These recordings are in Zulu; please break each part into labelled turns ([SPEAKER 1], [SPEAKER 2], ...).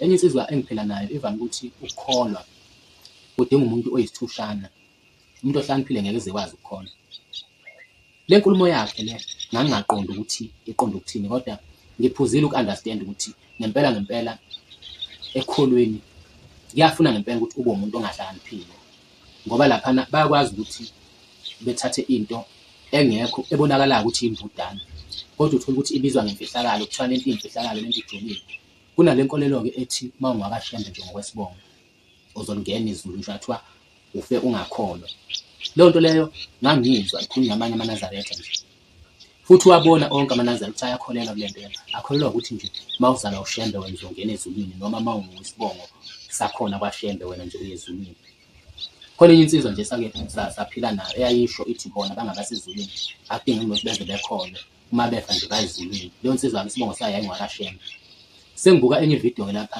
[SPEAKER 1] Enye insizwa engiphila nayo ivame ukuthi ukukholwa kudinga umuntu oyisithushana, umuntu ohlakaniphile ngeke eze ekwazi ukukholwa. Le nkulumo yakhe le ngangingaqondi ukuthi iqonde ukuthini kodwa ngiphuzile uku-understand ukuthi ngempela ngempela ekholweni kuyafuna ngempela ukuthi ube umuntu ongahlakaniphile ngoba laphana bayakwazi ukuthi bethathe into engekho ebonakalayo ukuthi imbudane kodwa uthole ukuthi ibizwa ngemfihlakalo kuthiwa lento iyimfihlakalo lento ijolile kunale nkolelo-ke ethi uma ungakashembe nje ngokwesibongo uzolingena izulu nje kuthiwa ufe ungakholwa leyo nto leyo ngangiyizwa ikhulunywa amanye amanazaretha nje Futhi uwabona onke amanazela ukuthi ayakholelwa kule mpela, akholelwa ukuthi nje uma uzalwa uShembe wena uzongena ezulwini noma uma unguwisibongo sakhona kwaShembe wena nje uye ezulwini. Khona enye insizwa nje esake saphila nayo eyayisho ithi bona bangabasezulwini akudingeki ukuthi beze bekhona uma befa nje bayezulwini. Leyo nsizwa-ke isibongo sayo yayingwakaShembe. Sengibuka enye ividiyo-ke lapha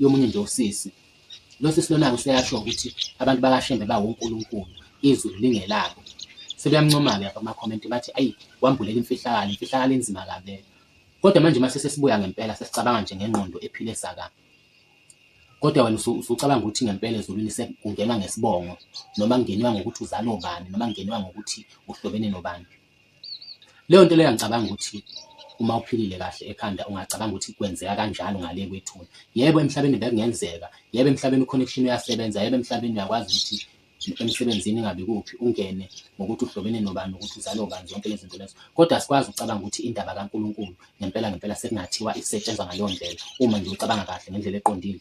[SPEAKER 1] yomunye nje usisi Lo sisi lona-ke useyasho ukuthi abantu bakaShembe bawonkulunkulu, izulu lingelabo. Sebeyamncoma-ke lapha kumakhomenti bathi ayi wambulela imfihlakalo, imfihlakalo enzima kabi leyo. Kodwa manje uma sesesibuya ngempela sesicabanga nje ngengqondo ephile saka. Kodwa wena usucabanga ukuthi ngempela ezulwini sekungenwa ngesibongo noma kungeniwa ngokuthi uzalwa ubani noma kungeniwa ngokuthi uhlobene nobani. Leyo nto leyo angicabanga ukuthi uma uphilile kahle ekhanda ungacabanga ukuthi kwenzeka kanjalo ngale kwethuna. Yebo emhlabeni bekungenzeka, yebo emhlabeni u-connection uyasebenza, yebo emhlabeni uyakwazi ukuthi emsebenzini ingabe kuphi ungene ngokuthi uhlobene nobani ukuthi uzale ubani zonke lezi zinto lezo kodwa asikwazi ukucabanga ukuthi indaba kaNkulunkulu ngempela ngempela sekungathiwa isetshenzwa ngaleyo ndlela uma nje ucabanga kahle ngendlela eqondile